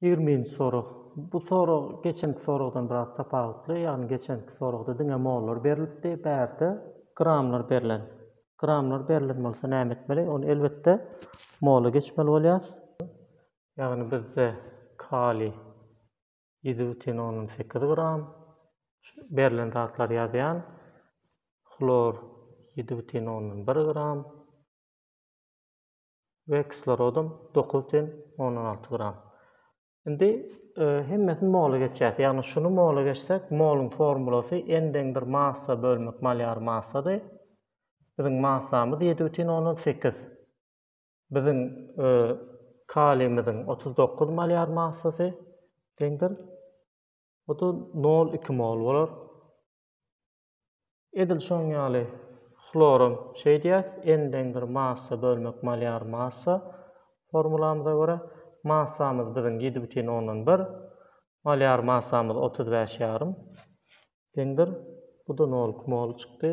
Ýigriminji sorag. Bu sorag geçenki soragdan biraz tapawutly, ýagny geçenki soragda diňe mollar berlipdi, bärde gramlar berlen. Gramlar berlen bolsa näme etmeli? Ony elbetde mola geçmeli bolýar. Ýagny bizde kaliý ýedi bütin ondan sekiz gram, berlen zatlary ýazýan, hlor ýedi bütin ondan bir gram, we kislorodam dokuz ten ondan alty gram. Indi e, hemmesini mola geçýär. Ýagny şuny mola geçsek, moluň formulasy n deň bir massa bölmek malýar massady. Biziň massamyz 7,8. Biziň e, kaliýmiziň 39 malýar massasy deňdir. Bu da 0,2 mol bolar. Edil şoň ýaly hloram şeýdýäs, N-deňdir massa bölmek malýar massa formulamyza görä, massamyz biziň ýedi bütin ondan bir, malýar massamyz otuz bäş ýarym deňdir, bu-da nol kmol çykdy.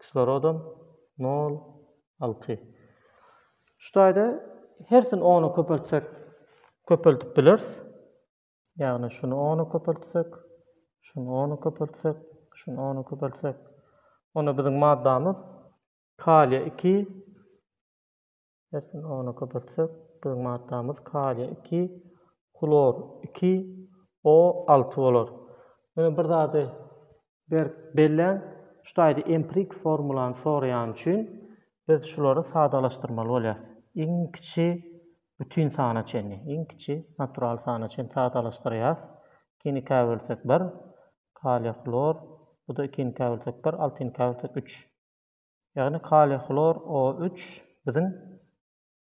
Kislorodam nol alty. Şu taýda hersini ona köpeltsek köpeldip bileris. Ýagny şuny ona köpeltsek, şuny ona köpeltsek, şuny ona köpeltsek. Onda biziň maddamyz kaliýa 2 Erkin ony köpeltsek, biziň maddamyz kaliý iki, hlor iki, O alty bolar. Ýöne bir zady berk belläň, şu taýda empirik formulany soraýany üçin biz şulary sadalaşdyrmaly bolýar. Iň kiçi bütin sana çenli, iň kiçi natural sana çenli sadalaşdyrýas. Ikinikä bölsek bir, kaliý hlor, bu-da ikinikä bölsek bir, altynykä bölsek üç. Ýagny kaliý hlor O üç biziň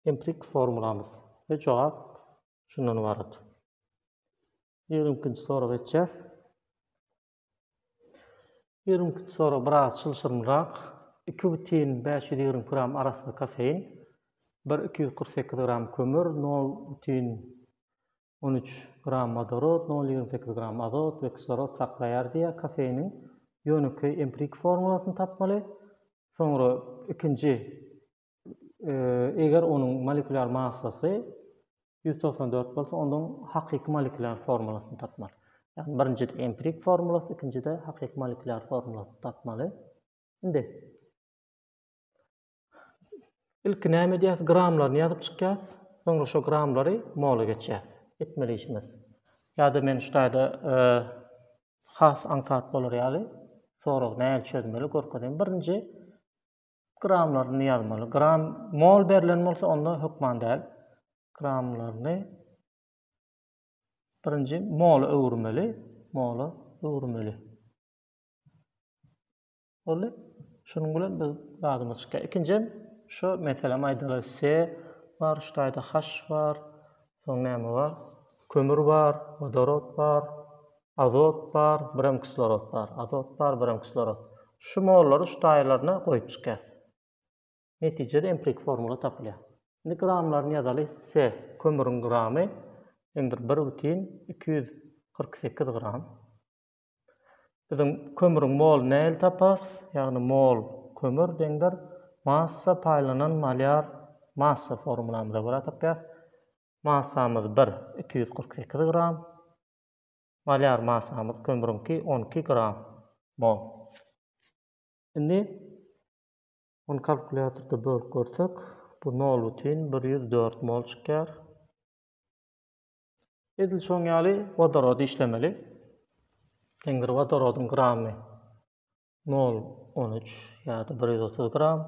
empirik formulamyz we jogap şundan ybarat. Ýigrimi ikinji soraga geçýäs. Ýigrimi ikinji sorag biraz çylşyrymrak. Iki butin bäş ýüz ýigrimi gram arassa kofein, bir iki ýüz kyrk sekiz gram kömür, nol butin on üç gram wodorod, nol ýigrimi sekiz gram azot we kislorod saklaýar diýýär kofeiniň ýönekeý empirik formulasyny tapmaly. Soňra ikinji eger onuň molekulýar massasy ýüz togsan dört bolsa ondan hakyky molekulýar formulasyny tapmaly. Ýagny birinjide empirik formulasy ikinjide hakyky molekulýar formulasyny tapmaly. Indi Ilki näme edýäs? Gramlaryny ýazyp çykýas. Soňra şo gramlary mola geçýäs. Etmeli işimiz. Ýa-da men şu taýda has aňsat bolar ýaly soragy nähili çözmeli görkezeýin. Birinji gramlaryny ýazmaly. Gram mol berlen bolsa onda hökman däl. Gramlaryny birinji mola öwürmeli. Mola öwürmeli. Boldy. Şunuň bilen biz lazymyz çykýar. Ikinjiden, şo meselem aýdaly, se bar, şu taýda haş bar, soň näme bar? Kömür bar, wodorod bar, azot bar, birem kislorod bar, azot bar, birem kislorod. Şu mollary şu taýlaryna goýup çykýar. Netijede empiriki formula tapylýar. Indi gramlaryny ýazaly, se kömüriň gramy deňdir bir bütin iki ýüz kyrk sekiz gram. Biziň kömrüň mol näl taparys, ýagny mol kömür deňdir massa paýlanan malýar massa formulamyza görä tapýas. Massamyz bir iki ýüz kyrk sekiz gram. Malýar massamyz kömrüňki on iki gram mol. Indi ony kalkulýatorda bölüp görsek, bu nol bütin bir ýüz dört mol çykýar. Edil şoň ýaly wodorody işlemeli. Deňdir wodorodyň gramy nol on üç ýa-da bir ýüz otuz gram.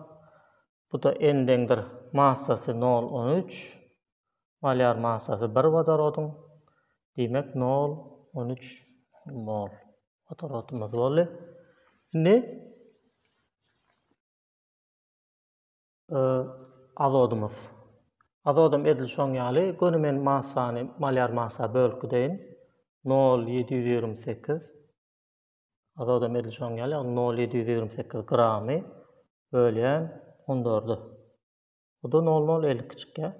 Bu-da N deňdir massasy nol on üç, molýar massasy bir wodorodyň. Diýmek, nol on üç mol wodorodymyz boldy. Indi Azodymyz. Azodym edil şoň ýaly, göni men massany malýar massa bölüp gideýin. Nol ýedi ýüz ýigrimi sekiz. Azodym edil şoň ýaly, ýagny nol ýedi ýüz ýigrimi sekiz gramy bölýän on dörde. Bu-da nol nol elli iki çykýar.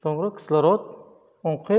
Soňra kislorod oňky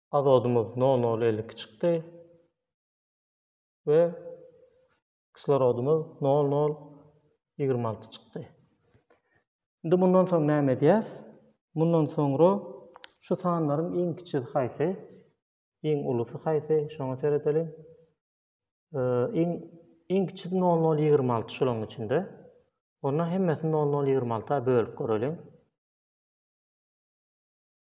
azodumyz nol nol elli iki çykdy we kislorodumyz nol nol ýigrimi alty çykdy. Indi mundan soň näme edýäs? Mundan soňra şu sanlaryň iň kiçisi haýsy, iň ulusy haýsy, şoňa seredeliň. Iň iň kiçisi nol nol ýigrimi alty şolaryň içinde. Onda hemmesini nol nol ýigrimi alta bölüp göreliň.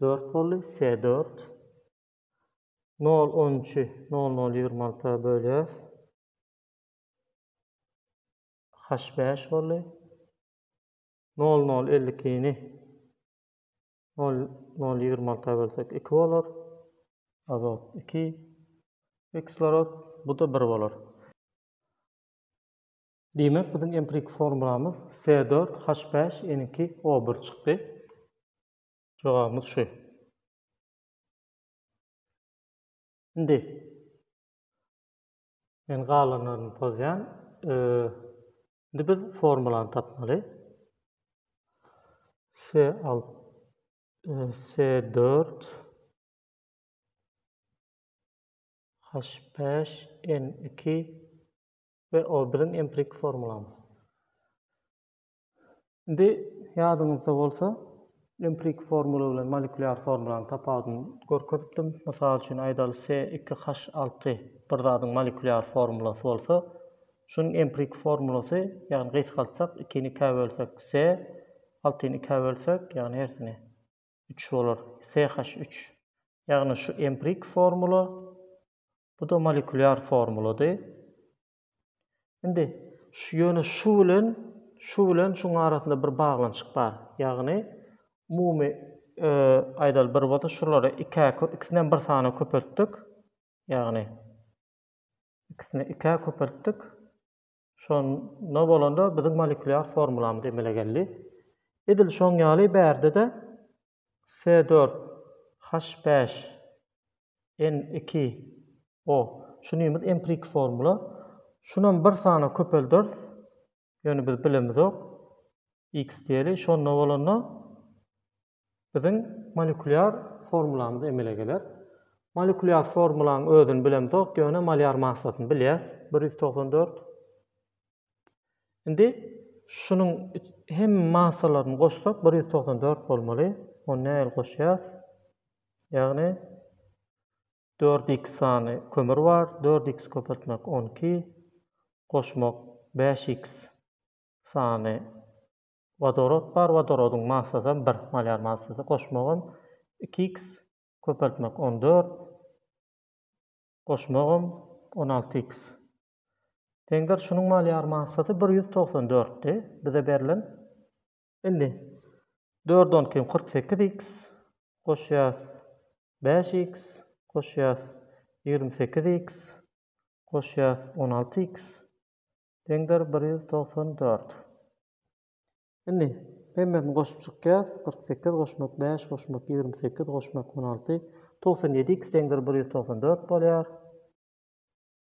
Dört boldy. Se dört. Nol on üçi nol nol ýigrimi alta bölýäs. Haş bäş boldy. Nol nol elli ikini nol nol ýigrimi alta bölsek iki bolar. Azot iki. Kislorod. Bu-da bir bolar. Diýmek biziň empiriki formulamyz SE dört H bäş N iki O bir çykdy. Jogabymyz şu. Indi men galanlaryny pozýan. Indi biz formulany tapmaly. S al S dört H beş N iki we o biziň empirik formulamyz. Indi ýadyňyzda bolsa, empirik formula bilen molekulýar formulanyň tapawudyny görkezipdim. Mysal üçin aýdaly se iki haş alty bir zadyň molekulýar formulasy bolsa, şunuň empirik formulasy, ýagny gysgaltsak, ikini ikä bölsek, se, altyny ikä bölsek, ýagny hersini, üç bolar, se haş üç. Ýagny şu empirik formula Bu-da molekulýar formulady. Indi şu ýöne şu bilen şu bilen şuň arasynda bir baglanyşyk bar. Ýagny umumy aýdaly bir bolsa şulary ikä ikisinem bir sana köpeltdik. Ýagny ikisini ikä köpeltdik. Şonda bolanda biziň molekulýar formulamyz emele geldi. Edil şoň ýaly bärde-de Se dört, Haş bäş, En iki, O. Şunymyz empirik formula. Şunam bir sana köpelderis. Ýöne biz bilemizok. X diýeli. Şonda bolanda biziň molekulýar formulamyz emele geler. Molekulýar formulaň özüni bilemizok, ýöne malýar massasyny bilýäs. Bir ýüz togsan dört, Indi şunuň hem massalaryny goşsak bir ýüz togsan dört bolmaly. Ony nähili goşýas? Ýagny dört x sany kömür bar. Dört x köpeltmek on iki goşmak bäş x sany wodorod bar. Wodorodyň massasam bir malýar massasy. Goşmagam iki x köpeltmek on dört goşmagam on alty x Deňder şunuň mal ýar massaty bir ýüz togsan dörtdi bize berlen. Indi dörde on kim kyrk sekiz x goşýas bäş x goşýas ýigrimi sekiz x goşýas on alty x deňder bir ýüz togsan dört. Indi hemmesini goşup çykýas kyrk sekiz goşmak bäş goşmak ýigrimi sekiz goşmak on alty togsan ýedi x deňder bir ýüz togsan dört bolýar.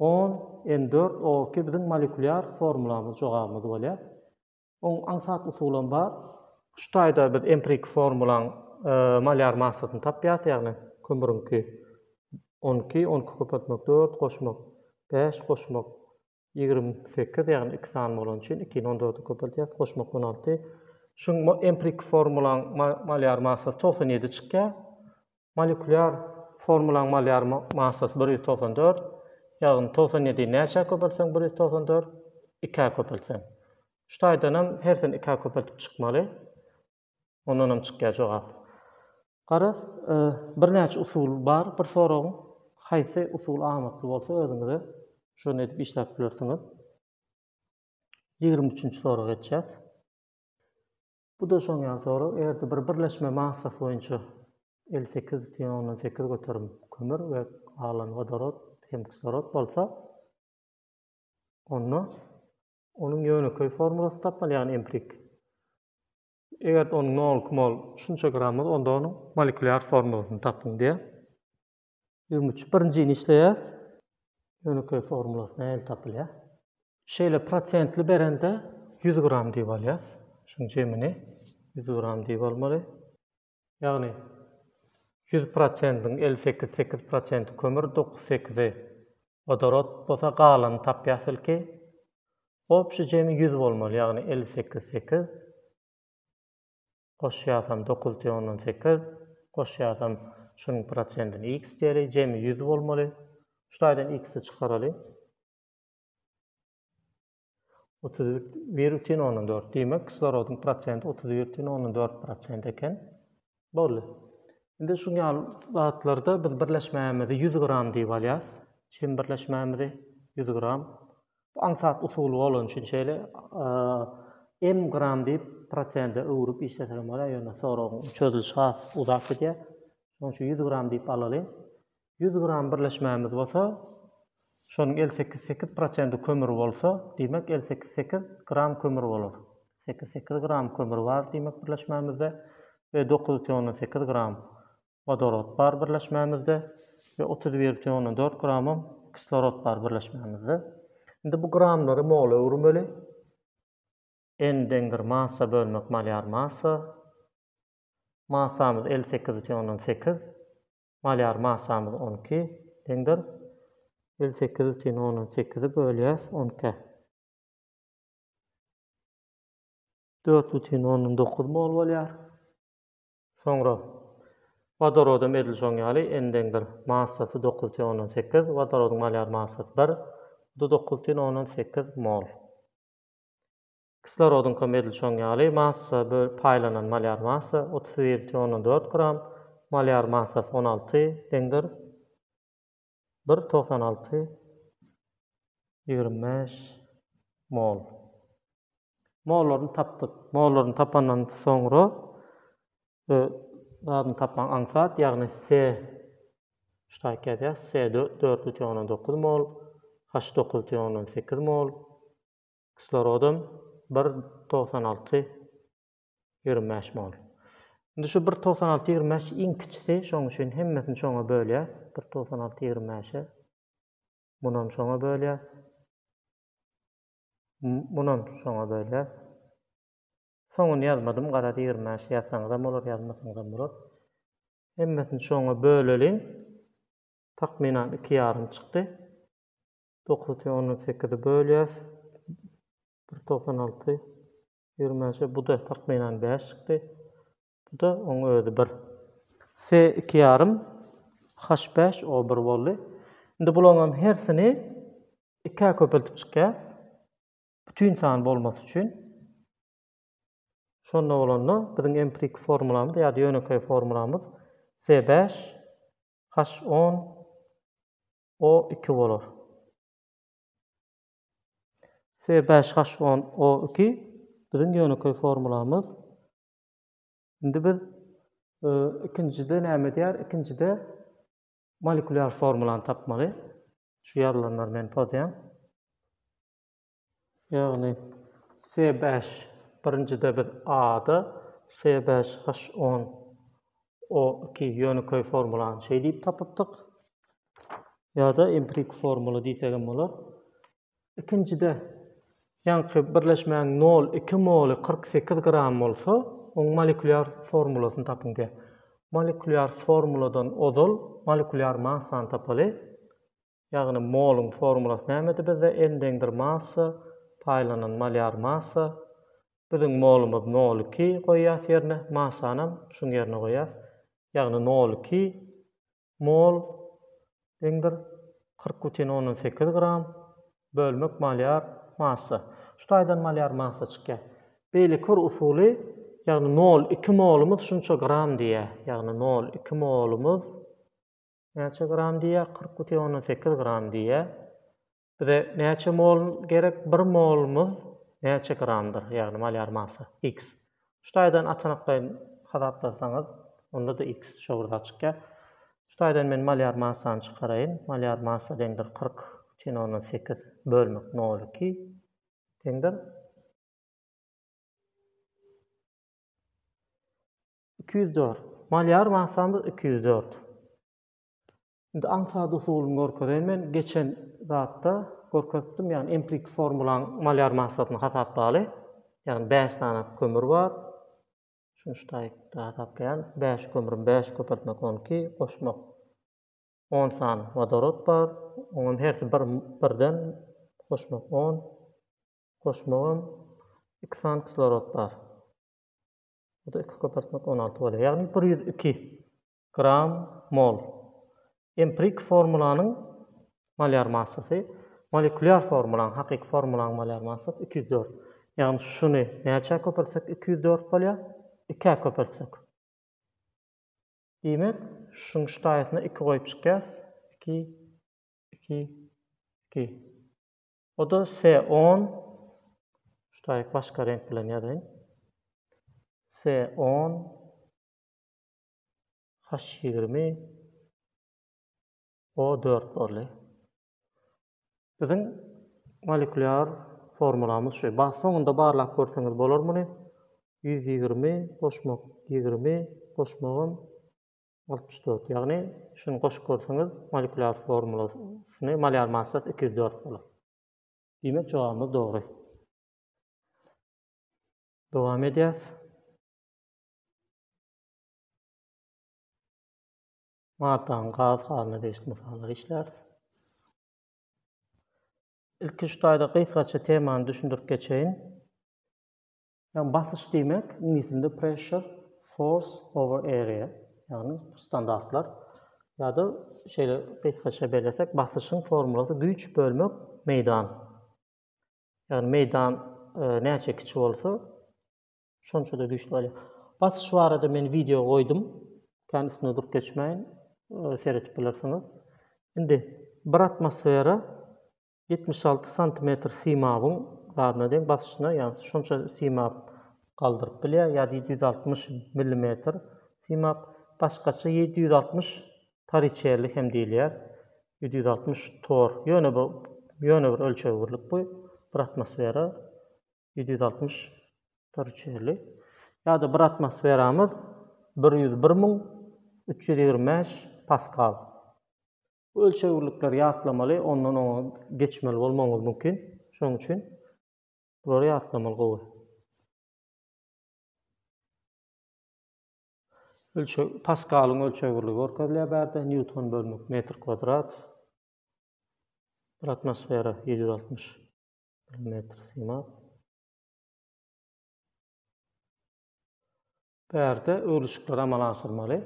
On, N dört O iki biziň molekulýar formulamyz jogabymyz bolýar. Oň aňsat usulam bar. Şu taýda biz empiriki formulaň molýar massasyny tapýas, ýagny kömüriňki on iki, on iki köpeltmek dört, goşmak bäş, goşmak ýigrimi sekiz, ýagny iki sany bolany üçin ikini on dörde köpeltýäs, goşmak on alty. Şuň empiriki formulaň molýar massasy togsan ýedi çykýar. Molekulýar formulaň malýar massasy bir ýüz togsan dört, ýagny togsan ýedii näçä köpeltseň bir ýüz togsan dört, ikä köpeltseň. Şu taýdanam hersini ikä köpeltip çykmaly. Ondanam çykýar jogap. Garaz, birnäçe usuly bar bir soragyň. Haýsy usul amatly bolsa özüňize şony edip işläp bilersiňiz. Ýigrimi üçünji soraga geçýäs. Bu da şoň ýaly sorag, eger-de bir birleşme massasy boýunça elli sekiz butyn ondan sekiz göterim kömür we galan wodorod hem kislorod bolsa, onda onuň ýönekeý formulasy tapmaly, ýagny empirik. Eger-de onuň nol, mol, şunça grammy, onda onuň molekulýar formulasyny tapyň diýýär. Ýigrimi üç. Birinjini işleýäs. Ýönekeý formulasy nähili tapylýar? Şeýle prosentli berende ýüz gram diýip alýas. Şuň jemini ýüz gram diýip almaly. Ýagny ýüz prosentiň elli sekiz, sekiz prosenti kömür, dokuz, sekizi wodorod bolsa galany tapýas ilki. Obşi jemi ýüz bolmaly, ýagny elli sekiz, sekiz. goşýasam dokuz teң ondan sekiz goşýasam şunuň prosentini x diýeli jemi ýüz bolmaly şu taýdan x-i çykaraly otuz bir bütin ondan dört diýmek kislorodyň prosenti otuz bir bütin ondan dört prosent eken boldy indi şu ýaly zatlarda biz birleşmämizi ýüz gram diýip alýas çim birleşmämizi ýüz gram Bu aňsat usuly bolany üçin şeýle m gram diýip prosente öwrüp işlesek hem bolýar, ýöne soragyň çözülişi has uzap gidýär. Şonuň üçin ýüz gram diýip alalyň. Ýüz gram birleşmämiz bolsa, şonuň elli sekiz sekiz prosenti kömür bolsa, diýmek elli sekiz sekiz gram kömür bolar. Sekiz sekiz gram kömür bar diýmek birleşmämizde we dokuz ýüz on sekiz gram wodorod bar birleşmämizde we otuz bir butyn ondan dört gramam kislorod bar birleşmämizde. Indi bu gramlary mola öwürmeli. N deňdir massa bölmek malýar massa. Massamyz elli sekiz butyn ondan sekiz. Malýar massamyz on iki deňdir. Elli sekiz butyn ondan sekizi bölýäs on ikä. Dört butyn ondan dokuz mol bolýar. Soňra wodorodam edil şoň ýaly endeň bir massasy dokuz tiýen ondan sekiz, wodorodyň malýar massasy bir, bu da dokuz tiýen ondan sekiz mol. Kislorodyňkam edil şoň ýaly massa böl paýlanan malýar massa otuz bir tiýen ondan dört gram, malýar massasy on alty deňdir. Bir togsan alty ýigrimi bäş mol. Mollaryny tapdyk. Mollaryny tapandan soňra bir zadyny tapmaň aňsat, ýagny se ştaýk ýazýas, se dört bütin ondan dokuz mol, haş dokuz bütin ondan sekiz mol, kislorodam bir togsan alty Ýigrimi bäş mol. Indi şu bir togsan alty ýigrimi bäş iň kiçisi, şoň üçin hemmesini şoňa bölýäs. Bir togsan alty ýigrimi bäşe. Munam şoňa bölýäs. Munam şoňa bölýäs. Soňuny ýazmadym, garaz ýigrimi bäş ýazsaňyzam bolar, ýazmasaňyzam bolar. Hemmesini şoňa böleliň. Takmynan iki ýarym çykdy. Dokuz ýüz ondan sekizde bölýäs. Bir togsan alty. Ýörmänçä bu-da takmynan bäş çykdy. Bu-da oň özi bir. Se iki ýarym, haş bäş, o bir boldy. Indi bulaňam hersini ikä köpeltip çykýas. Bütin san bolmasy üçin. Şonda bolanda biziň empiriki formulamyz ýa-da ýönekeý formulamyz se bäş, haş on, o iki bolar. S bäş haş on O iki biziň ýönekeý formulamyz. Indi biz ikinjide näme edýär? Ikinjide molekulýar formulany tapmaly. Şu ýazylanlary men pozýan. Ýagny S bäş birinjide biz A-da S bäş haş on O iki ýönekeý formulany şeý diýip tapypdyk. ýa-da empirik formula diýsegem bolar. Ikinjide ýaňky birleşmäniň nol iki moly kyrk sekiz gram bolsa, oň molekulýar formulasyny tapyň diýýär. Molekulýar formuladan ozal molekulýar massany tapaly. Ýagny moluň formulasy nämedi bizde? N deňdir massa paýlanan molýar massa. Biziň molumyz nol iki goýýas ýerine, massanam şuň ýerine goýýas. Ýagny nol iki Mol, deňdir, kyrk bütin ondan sekiz gram, bölmek malýar massa. Şu taýdan malýar massa çykýar. Beýleki bir usuly, ýagny nol iki molumyz şunça gram diýýär. Ýagny nol iki molumyz näçe gram diýýär? Kyrk bütin ondan sekiz gram diýýär. Bize näçe mol gerek? Bir molumyz näçe gramdyr? Ýagny malýar massa, X. Şu taýdan açanaklaýyn hasaplasaňyz, onda-da X şo bir zat çykýar. Şu taýdan men malýar massany çykaraýyn. Malýar massa deňdir kyrk çen ondan sekiz bölmek nol iki deňdir iki ýüz dört. Malýar massamyz iki ýüz dört. Indi aňsat usulyny görkezeýin men geçen zatda görkezipdim ýagny empiriki formulaň malýar massasyny hasaplaly ýagny bäş sany kömür bar şuny ştaýkda hasaplaýan bäş kömrüm bäş köpeltmek on iki goşmak on sany wodorod bar oňam hersi bir birden goşmak on goşmagam iki sany kislorod bar bu da iki köpeltmek on alty bolýar ýagny bir ýüz iki Gram, mol. Emprik formulanyň molýar massasy, molekulýar formulaň, hakyky formulaň molýar massasy iki ýüz dört. Ýagny şuny näçä köpeltsek iki ýüz dört bolýar, ikä köpeltsek. Diýmek, şuň şu taýysyna iki goýup çykýas, iki, iki, iki. O-da se on, şu taýyk başga reňk bilen ýazaýyn, se on, Haş ýigrimi O dört boldy. Biziň molekulýar formulamyz şu. Ba soňunda barlap görseňiz bolar muny. Ýüz ýigrimi goşmak ýigrimi goşmagam altmyş dört. Ýagny şuny goşup görseňiz molekulýar formulasyny malýar massasy iki ýüz dört bolar. Diýmek jogabymyz dogry. Dowam edýäs. Maddanyň gaz halyna degişli mysallary işläris. Ilki şu taýda gysgaça temany düşündirip geçeýin. Ýagny basyş diýmek, iňlis dilinde pressure, force over area, ýagny standartlar ýa-da şeýle gysgaça bellesek, basyşyň formulasy güýç bölmek meýdan. Ýagny meýdan e, näçe kiçi bolsa, Şonçada güýçli bolýar. Basyş barada men wideo goýdum. Kän üstünde durup geçmäýin. Seretip bilersiňiz. Indi bir atmosfera ýetmiş alty santimetr simabyň zadyna deň basyşyna, ýagny şonça simap galdyryp bilýär, ýa-da ýedi ýüz altmyş millimetr simap. Başgaça ýedi ýüz altmyş toriçerli hem diýilýär. Ýedi ýüz altmyş tor. Ýöne bu ýöne bir ölçeg birlik bu. Bir atmosfera ýedi ýüz altmyş hektar üçeli ýa-da bir atmosferamyz bir ýüz bir müň üç ýüz ýigrimi bäş paskal. Bu ölçegirlikleri ýatlamaly, ondan oňa geçmeli bolmagyňyz mümkin. Şonuň üçin bulary ýatlamaly gowy. Ölçeg, paskalyň ölçegirligi görkezilýär bärde, newton bölmek metr kwadrat. Bir atmosfera 760 Bir metr synap. Bärde öwrülişikleri amala aşyrmaly.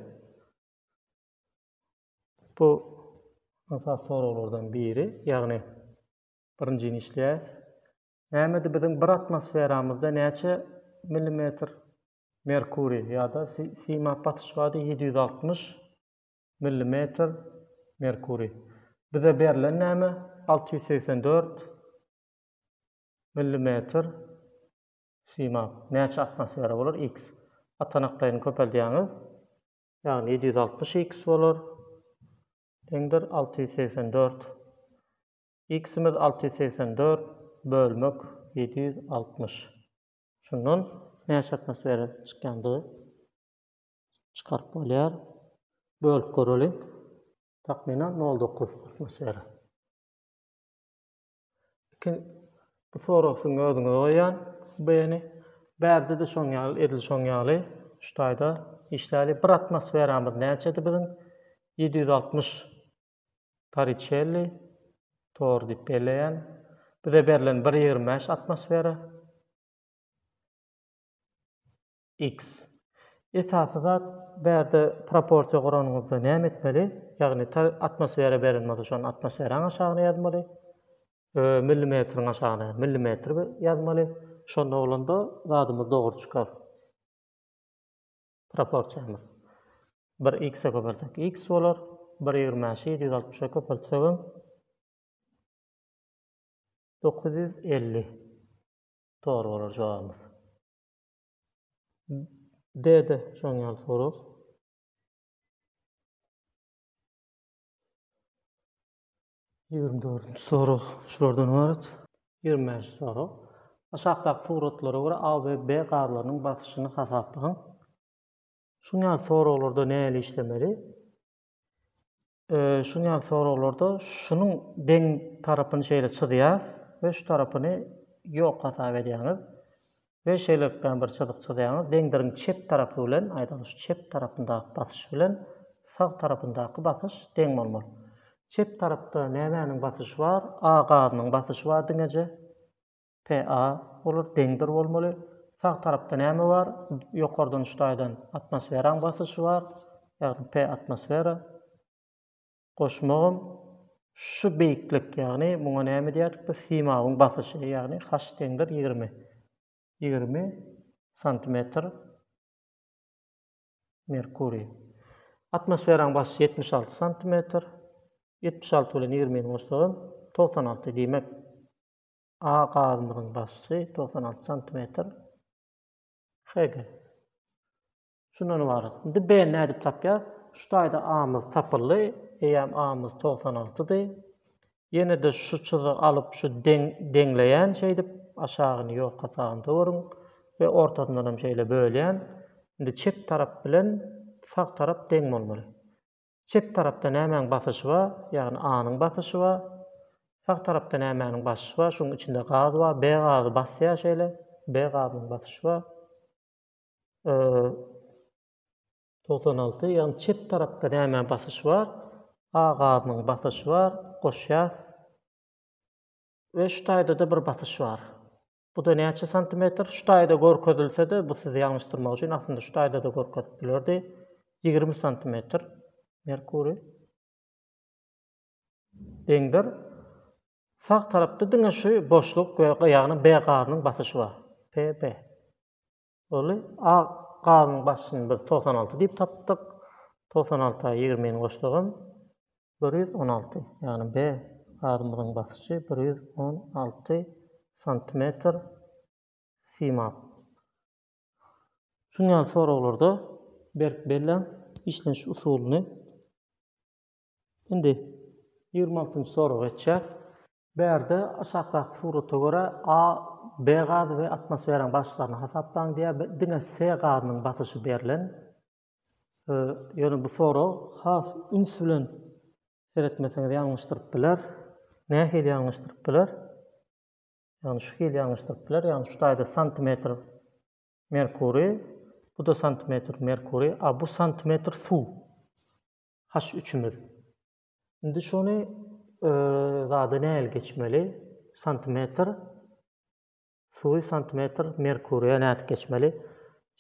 Bu asas soraglardan biri, ýagny birinjini işleýäs. Nämedi biziň bir atmosferamyzda näçe millimetr merkuriý ýa-da synap basyş bardy? Ýedi ýüz altmyş Millimetr merkuriý. Bize berlen näme? Alty ýüz segsen dört Millimetr simap. Näçe atmosfera bolar? X. Atanaklaýyny köpeldýäňiz. Ýagny ýedi ýüz altmyş X bolar. Deňdir alty ýüz segsen dört. X-imiz alty ýüz segsen dört bölmek ýedi ýüz altmyş. Şundan näçe atmosfera çykýandygy çykaryp bolýar. Bölüp göreli. Takmynan 0,9 atmosfera. Iki bu soragyň özüňe goýýan B-ni. Bärde-de şoň ýaly, edil şoň ýaly şu taýda işläli. Bir atmosferamyz näçedi biziň? 760 Torriçelli tor diýip belleýän. Bize berlen 1,25 atmosfera. X. Esasy zat bärde proporsiýa guranyňyzda näme etmeli? Ýagny ta atmosfera beren bolsa şony atmosferaň aşagyna ýazmaly. Ö millimetriň aşagyna millimetr ýazmaly. Şonda bolanda zadymyz dogry çykar. Proporsiýamyz. Bir X-e köpeltsek X bolar. Bir ýigrimi bäşi ýedi ýüz altmyşa köpeltsegem dokuz ýüz elli dogry bolar jogabymyz. D-de şoň ýaly sorag. Ýigrimi dördünji sorag şulardan ybarat. Ýigrimi bäşinji sorag. Aşakdaky suratlara görä A we B gazlarynyň basyşyny hasaplaň. Şuň ýaly soraglarda nähili işlemeli? Şuň ýaly soraglarda şunuň deň tarapyny şeýle çyzýas we şu tarapyny ýok hasap edýäňiz we şeýlelikdäm bir çyzyk çyzýaňyz, deňdiriň çep tarapy bilen, aýdaly şu çep tarapyndaky basyş bilen sag tarapyndaky basyş deň bolmaly. Çep tarapda nämäniň basyşy bar? A gazynyň basyşy bar diňeje. PA, Olar deňdir bolmaly. Sag tarapda näme bar? Ýokardan üç taýdan atmosferaň basyşy bar. Ýagny P atmosfera. Goşmagym şu beýiklik, ýagny muňa näme diýerdik biz? Simawyň basyşy, ýagny H deňdir ýigrimi. Ýigrimi santimetr merkuriý. Atmosferaň basyşy ýetmiş alty santimetr. Ýetmiş alty bilen ýigrimini goşsagam togsan alty. Diýmek, A gazymyzyň basy togsan alty santimetr Hg. Şundan ybarat. Indi B ni nädip tapýas? Şu taýda A-myz tapyldy. Eýýäm A-myz togsan altydy. Ýene-de şu çyzy alyp şu deň deňleýän şeýdip aşagyny ýorka sagyn töweriň we ortasyndan hem şeýle bölýän. Indi çep tarap bilen sag tarap deň bolmaly. Çep tarapda nämäň basyşy bar? Ýagny A-nyň basyşy bar. Sag tarapda nämäniň basyşy bar? Şuň içinde gaz bar. B gazy basýar şeýle. B gazynyň basyşy bar. Togsan alty. Ýagny çep tarapda nämäň basyşy bar? A gazynyň basyşy bar. Goşýas. We şu taýda-da bir basyş bar. Bu-da näçe santimetr? Şu taýda görkezilse-de, bu sizi ýalňyşdyrmak üçin aslynda şu taýda-da görkezip bilerdi. Ýigrimi santimetr Merkuriý. Deňdir. Sag tarapda diňe şu boşluk we ýagny B gazynyň basyşy bar. PB. Ol A gazyň basyny biz togsan alty diýip tapdyk. Togsan alta ýigrimi goşsagam, bir ýüz on alty. Ýagny B gazymyzyň basyşy bir ýüz on alty santimetr simap. Şuň ýaly soraglarda berk belläň, işleniş usulyny Indi ýigrimi altynjy soraga geçýäs. Bärde aşakdaky surata görä A, B gazy we atmosferaň basyşlaryny hasaplaň diýýär. Diňe C gazynyň basyşy berlen. Ýöne bu sorag has üns bilen seretmeseňiz ýalňyşdyryp biler. Nähili ýalňyşdyryp biler? Ýagny şu hili ýalňyşdyryp biler. Ýagny şu taýda santimetr merkuriý, bu-da santimetr merkuriý, a bu santimetr suw. Haş üçümiz. Indi şony zada nähili geçmeli? Santimetr. Suwy santimetr merkuriýa nädip geçmeli?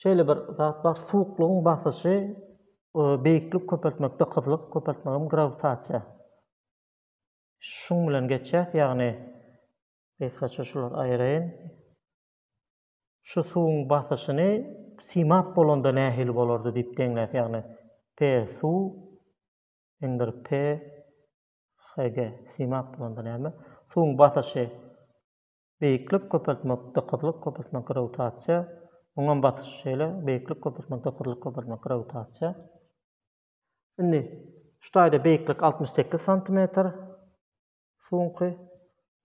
Şeýle bir zat bar, suwuklygyň basyşy beýiklik köpeltmek, dykyzlyk köpeltmegem grawitasiýa. Şuň bilen geçýäs, ýagny, gysgaça şulary aýyraýyn. Şu suwuň basyşyny simap bolanda nähili bolardy diýip deňläs ýagny P suw indir P HG simap bolanda näme suwuň basyşy beýiklik köpeltmek dykyzlyk köpeltmek grawitasiýa muňam basyşy şeýle beýiklik köpeltmek dykyzlyk köpeltmek grawitasiýa indi şu taýda beýiklik altmyş sekiz santimetr Suwuňky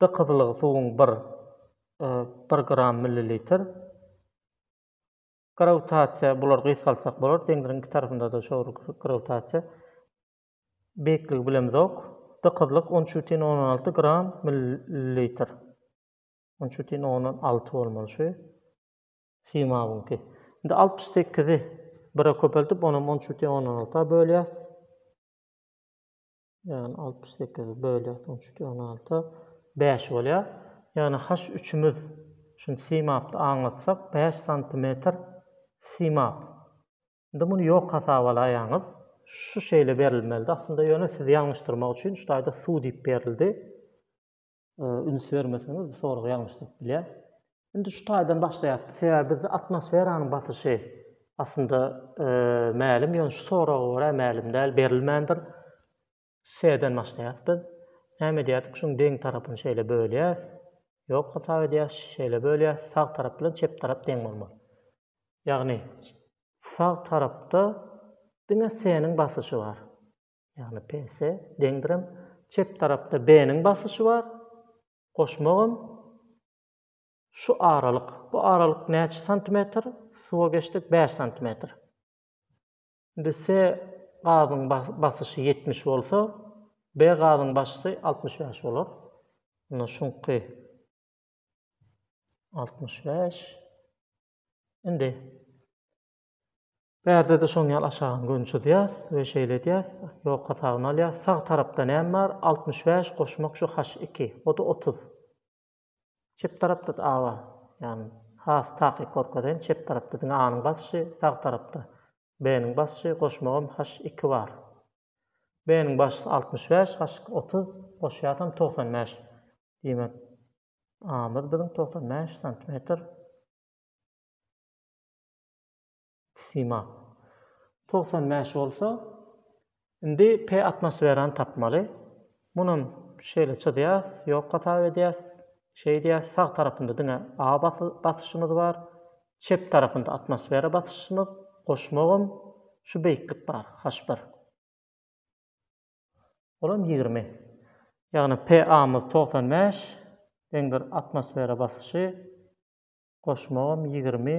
dykyzlygy suwuň bir, bir gram millilitr. Grawitasiýa bulary gysgaltsak bolar, deňziň iki tarapynda-da şo bir grawitasiýa. Beýikligi bilemizok. Dykyzlyk on üç bütin ondan alty gram millilitr. On üç bütin ondan alty bolmaly şu simawyňky. Indi altmyş sekizi bire köpeldip, onam on üç bütin ondan alta bölýäs. Ýagny altmyş sekizi bölýär on üçden on alta bäş bolýar. Ýagny H üçimiz şuny simapda aňlatsak bäş santimetr simap. Indi muny ýok hasabalaýaňyz. Şu şeýle berilmelidi aslynda ýöne sizi ýalňyşdyrmak üçin şu taýda su diýip berildi. üns bermeseňiz bu sorag ýalňyş durup bilýär. Indi şu taýdan başlaýas. Sebäbi bizde atmosferanyň basyşy aslynda mälim, ýöne şu soraga görä mälim däl, berilmändir. S'den başlaýas biz. Näme edýärdik? Şuň deň tarapyny şeýle bölýäs. Ýok hasap edýäs, şeýle bölýäs. Sag tarap bilen çep tarap deň bolmaly. Ýagny sag tarapda diňe S'niň basyşy bar. Ýagny PS deňdirem çep tarapda B-niň basyşy bar. Goşmagam şu aralyk. Bu aralyk näçe santimetr? Suwa geçdik bäş santimetr. Indi S gazyň basyşy ýetmiş bolsa, B gazyň basyşy altmyş bäş bolar. Onda şuňky altmyş bäş. Indi Bärde-de şoň ýaly aşagyny göni çyzýas we şeýle edýäs, ýok hasabyny alýas. Sag tarapda näme bar? Altmyş bäş goşmak şu haş iki, o-da otuz. Çep tarapda-da a bar. Ýagny, has takyk gorkazaýyn, çep tarapda diňe a-nyň basyşy, sag tarapda b-niň basyşy, goşmagam haş iki bar. B-niň basyşy altmyş bäş, haş otuz, goşýasam togsan bäş. Diýmek, a-myz biziň togsan bäş santimetr. Sima. Togsan bäş bolsa, indi P atmosferany tapmaly. Munam şeýle çyzýas, ýok hasap edýäs. Şeýdýäs, sag tarapynda diňe A basyşymyz bar. Çep tarapynda atmosfera basyşymyz, goşmagam şu beýiklik bar, H bir. Olam ýigrimi. Ýagny PA-myz togsan bäş, deňdir atmosfera basyşy goşmagam ýigrimi,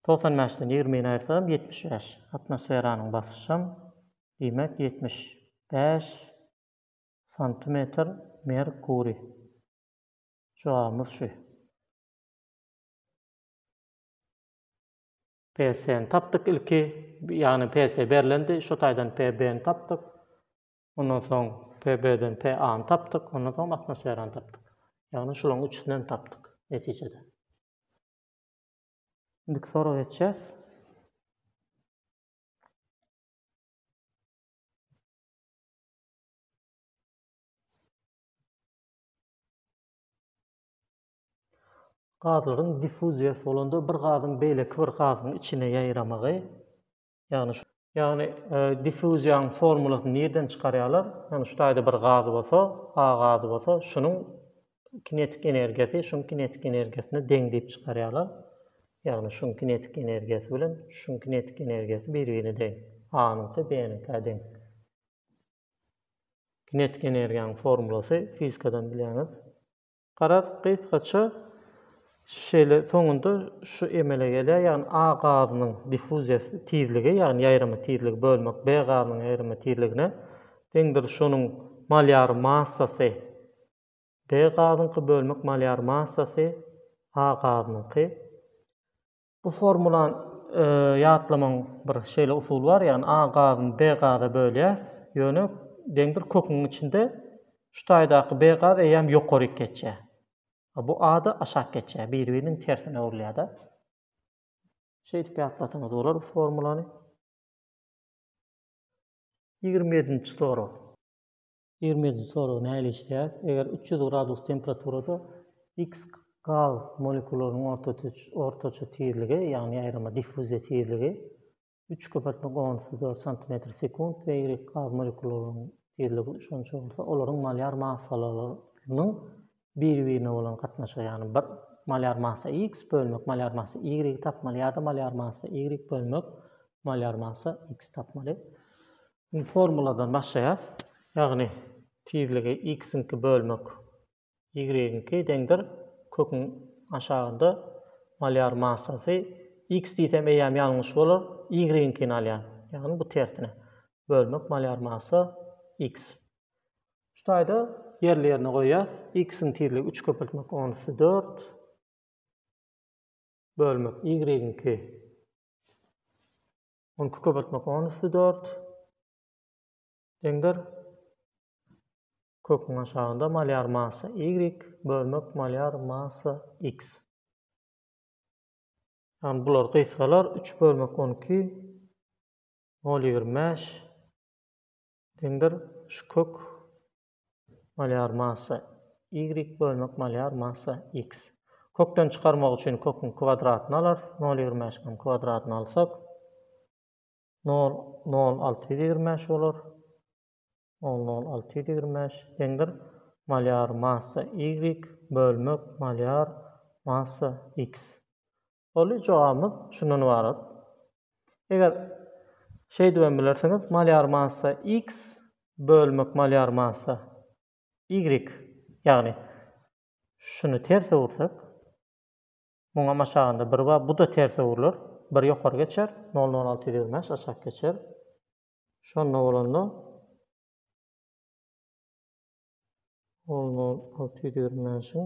togsan bäşden ýigrimini aýyrsagam ýetmiş bäş, atmosferanyň basyşam, diýmek, ýetmiş bäş santimetr merkuriý. Jogabymyz şu. PS-ni tapdyk ilki, ýagny PS berlendi, şo taýdan PB-ni tapdyk. Ondan soň TB-den TA-ny tapdyk, ondan soňam atmosferany tapdyk. Ýagny şularyň üçüsini hem tapdyk netijede. Indiki soraga geçýäs. Gazlaryň diffuziýasy bolanda bir gazyň beýleki bir gazyň içine ýaýramagy Ýagny şu. Ýagny diffuziýanyň formulasyny nirden çykarýarlar? Ýagny şu taýda bir gaz bolsa, A gazy bolsa, şunuň kinetik energiýasy şuň kinetik energiýasyna deň diýip çykarýarlar. Ýagny şuň kinetik energiýasy bilen şuň kinetik energiýasy bir-birine deň. A-nyňky B-niňkä deň. Kinetik energiýanyň formulasy fizikadan bilýäňiz. Garaz, gysgaça şeýle soňunda şu emele gelýär, ýagny A gazynyň diffuziýa tizligi, ýagny ýaýrama tizligi bölmek B gazynyň ýaýrama tizligine deňdir, şonuň molýar massasy B gazyňky bölmek molýar massasy A gazynyňky. Bu formulany ýatlamaň bir şeýle usuly bar, ýagny A gazyny B gaza bölýäs, ýöne deň bir köküň içinde şu taýdaky B gaz eýýäm ýokaryk geçýär. A bu A-da aşak geçýär, biri-biriniň tersine öwrülýär-de. Şeýdip ýatlasaňyz bolar bu formulany. Ýigrimi ýedinji sorag. Ýermeýetiň soragy nähili işleýär? Eger üç ýüz gradus temperaturada X gaz molekullarynyň ortaça tizligi, ýagny ýaýrama diffuziýa tizligi, üç köpeltmek onusy dört santimetr sekunt we Y gaz molekullarynyň tizligi şonça bolsa, olaryň molýar massalarynyň biri-birine bolan gatnaşygy, ýagny bir molýar massa X bölmek molýar massa Y-y tapmaly ýa-da molýar massa Y bölmek molýar massa X-y tapmaly. Indi formuladan başlaýas. Ýagny tizligi x-iňki bölmek y-iňki deňdir. Köküň aşagynda molýar massasy x diýsem eýýäm ýalňyş bolar, y-iňkini alýan. Ýagny bu tersine. Bölmek molýar massa x. Şu taýda ýerli-ýerine goýýas. X-iň tizligi üç köpeltmek on üsti dört bölmek y-iňki On iki köpeltmek on üsti dört deňdir. Köküň aşagynda malýar massa y bölmek malýar massa x. Ýagny bular gysgalar üç bölmek on iki nol ýigrimi bäş deňdir. Şu kök Molýar massa, Y bölmek molýar massa, X. Kökden çykarmak üçin köküň kwadratyny alarys, nol ýigrimi bäş ň kwadratyny alsak, nol, nol, alty ýüz ýigrimi bäş bolar, nol, nol, alty ýüz ýigrimi bäş deňdir molýar massa, Y bölmek molýar massa, X. Doly jogabymyz şundan ybarat. Eger şeýdibem bilersiňiz, Malýar massa X bölmek Malýar massa Y, ýagny şuny ters öwürsek, muňam aşagynda bir bar, bu-da ters öwrüler, bir ýokary geçer, nol nol alty ýüz ýigrimi bäş aşak geçer. Şonda bolanda nol nol alty ýüz ýigrimi bäşiň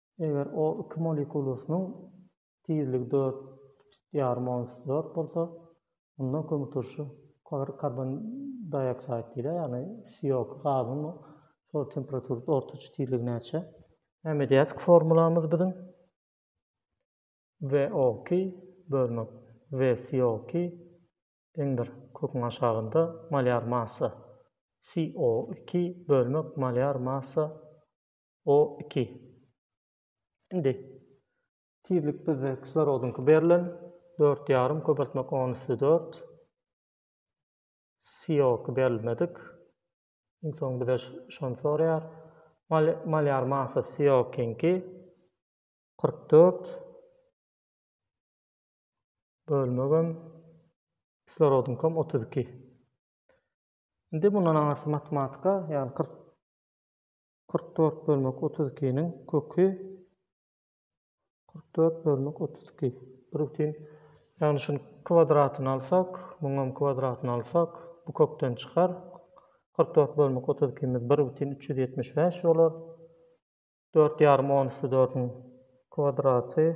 Eger o iki molekulasynyň tizligi dört ýarym ons dört bolsa, onda kömürturşy karbon dioksaid diýilýär, ýagny CO iki gazynyň şol temperaturada ortaça tizligi näçe? Näme diýýär formulamyz biziň? VO iki bölmek VCO iki deňdir köküň aşagynda molýar massa CO iki bölmek molýar massa O iki. Indi tizlik bizde kislorodyňky berlen, dört ýarym köpeltmek on üsti dört. CO-ky berilmedik. Iň soň bize şony soraýar. Molýar massa CO-kiňki kyrk dört bölmegem kislorodyňkam otuz iki. Indi mundan aňyrsy matematika, ýagny kyrk Kyrk dört bölmek otuz ikiniň köki kyrk dört bölmek otuz iki. Bir bütin. Ýagny şuny kwadratyny alsak, muňam kwadratyny alsak, bu kökden çykar. Kyrk dört bölmek otuz ikimiz bir bütin üç ýüz ýetmiş bäş bolar. Dört ýarym on üsti dördüň kwadraty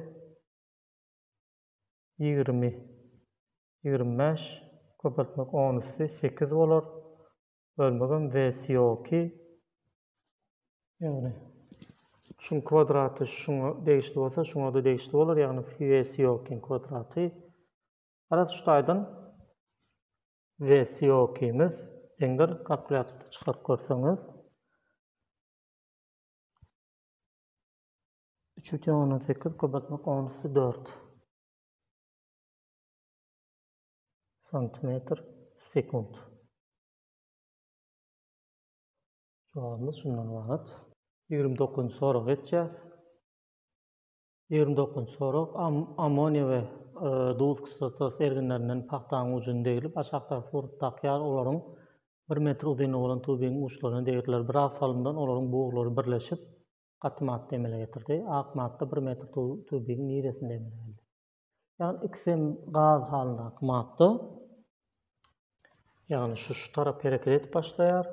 ýigrimi. Ýigrimi bäş köpeltmek on üsti sekiz bolar. Bölmegem wesi ýoki. Ýagny şuň kwadraty şuňa degişli bolsa şuňada degişli bolar ýagny wesi ýokyň kwadraty. Garaz şu taýdan wesi ýokymyz deňdir kalkulýatorda çykaryp görseňiz. Üç bütin ondan sekiz köpeltmek on üsti dört. santimetr sekunt. Jogabymyz şundan ybarat. Ýigrimi dokuzynjy soraga geçýäs. Ýigrimi dokuzynjy sorag ammoniýa we e, duz kislotası erginlerinden pagtanyň ujuny deglip, aşakdaky surat dakýar, olaryň bir metr uzynlygy bolan tubigiň uçlaryna degirdiler. Biraz salymdan olaryň buglary birleşip, gaty madda emele getirdi. Ak madda bir metr tubigiň niresinde emele geldi? Ýagny ikisi hem gaz halyndaky madda. Ýagny şu şu tarap hereket edip başlaýar.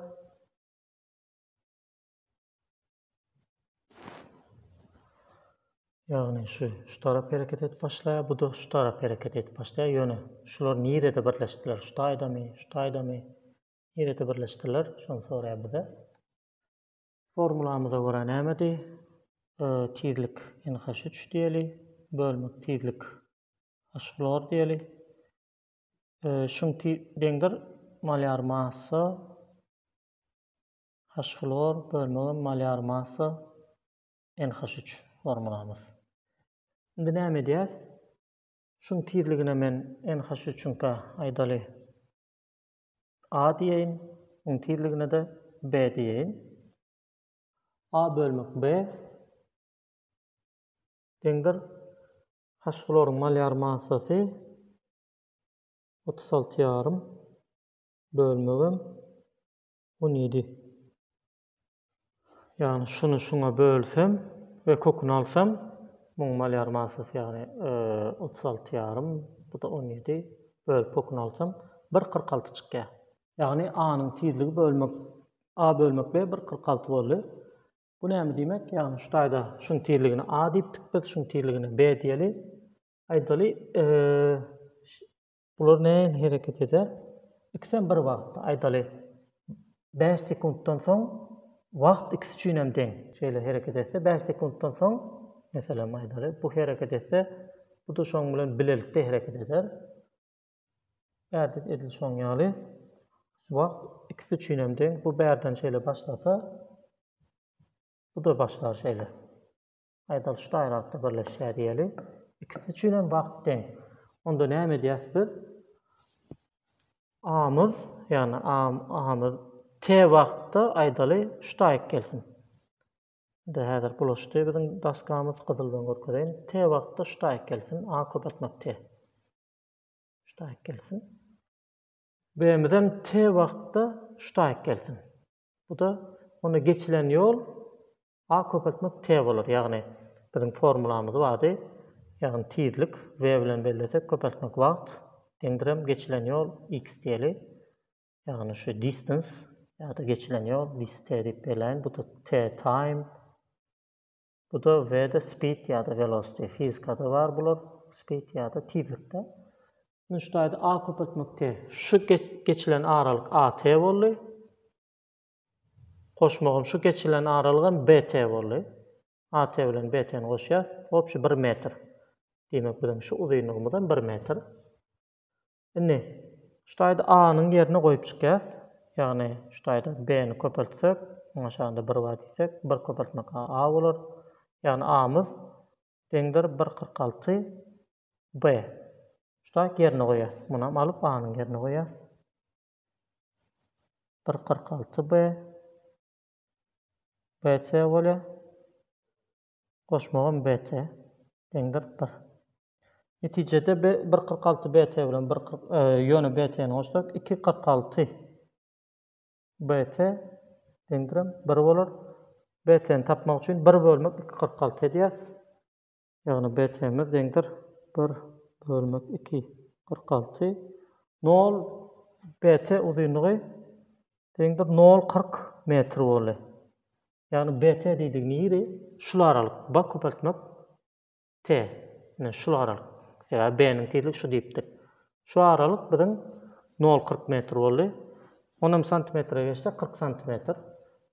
Ýagny şu şu tarap hereket edip başlaýar, bu da şu tarap hereket edip başlaýar. Ýöne şular nirede birleşdiler? Şu taýdamy, şu taýdamy? Nirede birleşdiler? Şony soraýar bize. Formulamyza görä nämedi? Ö, tizlik NH üç diýeli, bölmek tizlik H hlor diýeli. Ö, şuň ti, deňdir malýar massa H hlor bölmegem malýar massa NH üç formulamyz. Indi näme edýäs? Şuň tizligine men NH üçüňkä aýdaly A diýeýin, iň tizligine-de B diýeýin. A bölmek B deňdir H-hlorun molýar massasy otuz alty ýarym bölmegem on ýedi Ýagny şuny şuňa bölsem we köküni alsam muňa alýarym manysy ýagny otuz alty ýarym bu-da on ýedi bölüp köküni alsam bir kyrk alty çykýar. Ýagny A-nyň tizligi bölmek A bölmek B bir kyrk alty boldy. Bu näme diýmek? Ýagny şu taýda şuň tizligini A diýipdik biz şuň tizligini B diýeli. Aýdaly Bular nähili hereket eder? Ikisem bir wagtda, aýdaly, bäş sekuntdan soň wagt ikisi üçin hem deň. Şeýle hereket etse, bäş sekuntdan soň, meselem, aýdaly, bu hereket etse, bu-da şoň bilen bilelikde hereket eder. Bärde edil şoň ýaly. Wagt ikisi üçin hem deň. Bu bärden şeýle başlasa, bu-da başlar şeýle. Aýdaly şu taýlapda birleşýär diýeli. Ikisi üçin hem wagt deň. Onda näme edýäs biz? Amyz, ýagny am, amyz t wagtda aýdaly şu taýyk gelsin. Indi häzir bulaşdy biziň daskamyz gyzyl bilen görkezeýin. T wagtda şu taýyk gelsin. A köpeltmek t. Şu taýyk gelsin. B-mizem t wagtda şu taýyk gelsin. Bu-da onda geçilen ýol A köpeltmek T bolar. Ýagny biziň formulamyz bardy. Ýagny tizlik V bilen bellesek, köpeltmek wagt deňdir hem geçilen ýol X diýeli. Ýagny şu distans ýa-da geçilen ýol biz T diýip belläýin. Bu-da T time. Bu-da VD Speed ýa-da Velocity, fizikada bar bular, speed ýa-da tizlikde. Nuştaýda A köpeltmek T. Şu geçilen aralyk AT boldy. Goşmagam şu geçilen aralygam BT boldy. AT bilen BT-ni goşýas, obşi bir metr. Diýmek, biziň şu uzynlygymyzam bir metr. Indi, şu taýda A-nyň ýerine goýup çykýas. Ýagny, şu taýda B-ni köpeltsek, oňa şanda bir bar diýsek, bir köpeltmek A, A bolar. Ýagny, A-myz deňdir bir kyrk alty B. Şu taýda ýerine goýýas. Munam alyp, A-nyň ýerine goýýas. Bir kyrk alty B. BC bolýar. Goşmagam BT deň kyrk bir. Netijede B bir kyrk alty BT bilen bir kyrk ýöne BT-ni goşsak iki kyrk alty BT deňdirem bir bolar. BT-ni tapmak üçin bir bölmek iki kyrk alty edýäs. Ýagny BT-miz deňdir bir bölmek iki kyrk alty. Nol BT uzynlygy deňdir nol kyrk metr boldy. Ýagny BT diýdigi niri? Şul aralyk B köpeltmek T. Ine şul aralyk. Sebäbi B niň tizligi şu diýipdik. Şu aralyk biziň nol kyrk metr boldy. Onam santimetre geçsek kyrk santimetr.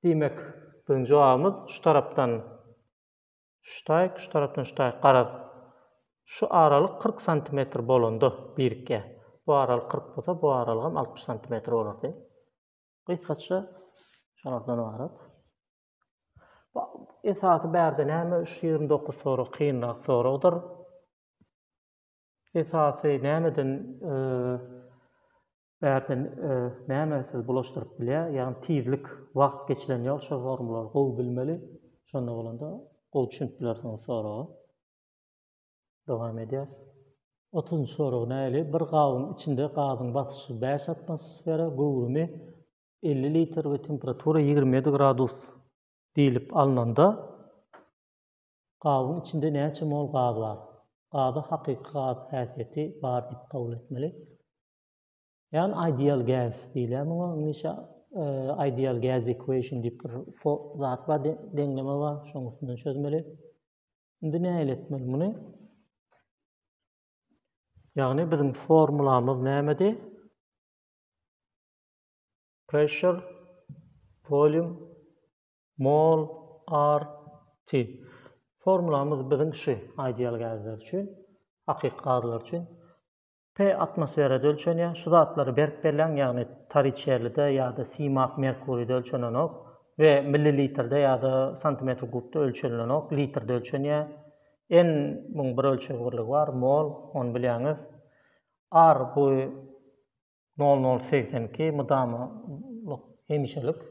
Diýmek biziň jogabymyz şu tarapdan şu taýk şu tarapdan şu taýk garaz şu aralyk kyrk santimetr bolanda birikýär. Bu aralyk kyrk bolsa bu aralygam altmyş santimetr bolardy. Gysgaça şolardan ybarat. Esasy bärde näme şu ýigrimi dokuz sorag kynrak soragdyr. Esasy nämeden e, bärden e, näme siz bulaşdyryp bilýär? Ýagny tizlik, wagt geçilen ýol şu formulary gowy bilmeli. Şonda bolanda gowy düşünip bilersiňiz soraga. Dowam edýäs. Otuzynjy sorag näili? Bir gabyň içinde gazyň basyşy bäş atmosfera, göwrümi elli litr we temperatura ýigrimi ýedi gradus diýlip alnanda, gabyň içinde näçe mol gaz bar? Gazy hakyky gaz häsiýeti bar diýip kabul etmeli. Ýagny ideal gas diýilýär muňa iňlisçe. Ideal gas equation diýip bir zat bar, deňleme bar, şonuň üstünden çözmeli. Indi nähili etmeli muny? Ýagny biziň formulamyz nämedi? Pressure, volume, mol, r, t. Formulamyz biziň şu ideal gazlar üçin, hakyky gazlar üçin. P atmosferada ölçenýär. Şu zatlary berk belläň, ýagny toriçerlide ýa-da simak merkuride ölçenenok we millilitrde ýa-da santimetr kubda ölçenilenok, litrde ölçenýär. N muň bir ölçeg birligi bar, mol, ony bilýäňiz. Ar bu nol nol segsen iki, mydamalyk, hemişelik.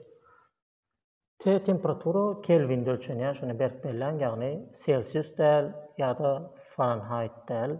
T temperatura kelwinde ölçenýär, şuny berk belläň, ýagny selsius däl ýa-da faranhaýt däl.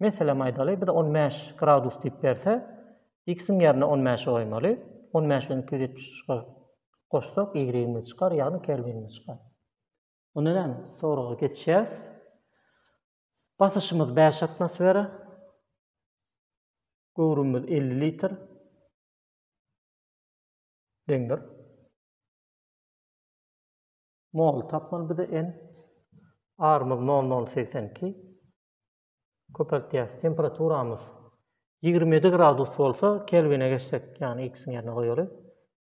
Meselem aýdaly, bize on bäş gradus diýip berse, x-iň ýerine on bäşi goýmaly. On bäş bilen iki ýüz ýetmiş üçi goşsak, y-imiz çykar, ýagny kelwinimiz çykar. Onda näme? Soraga geçýäs. Basyşymyz bäş atmosfera. Göwrümimiz elli litr. Deňdir. Mol tapmaly bize n. Arymyz nol nol segsen iki. Köpeltýäs. Temperaturamyz ýigrimi ýedi gradus bolsa, kelwine geçsek, ýagny x-iň ýerine goýaly.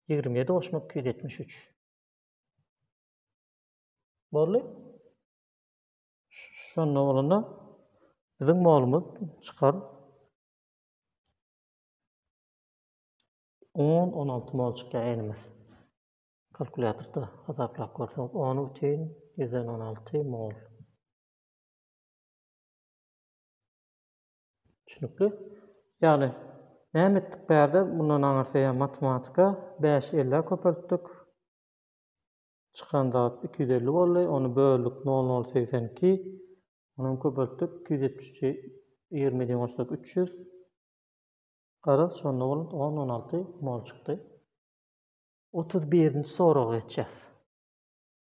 Ýigrimi ýedi goşmak iki ýüz ýetmiş üç. Boldy. Şonda bolanda biziň molumyz çykar. On, on alty mol çykýar enimiz. Kalkulýatorda hasaplap görseňiz, on bütin ýüzden on alty mol. Düşünikli. Ýagny näme etdik bärde mundan aňyrsy ýa matematika bäş ellä köpeltdik. Çykan zat iki ýüz elli boldy. Ony böldük nol nol segsen iki. Ony hem köpeltdik iki ýüz ýetmiş üçi ýigrimi bilen goşsak üç ýüz. Garaz şonda bolan on on alty mol çykdy. Otuz birinji soraga geçýäs.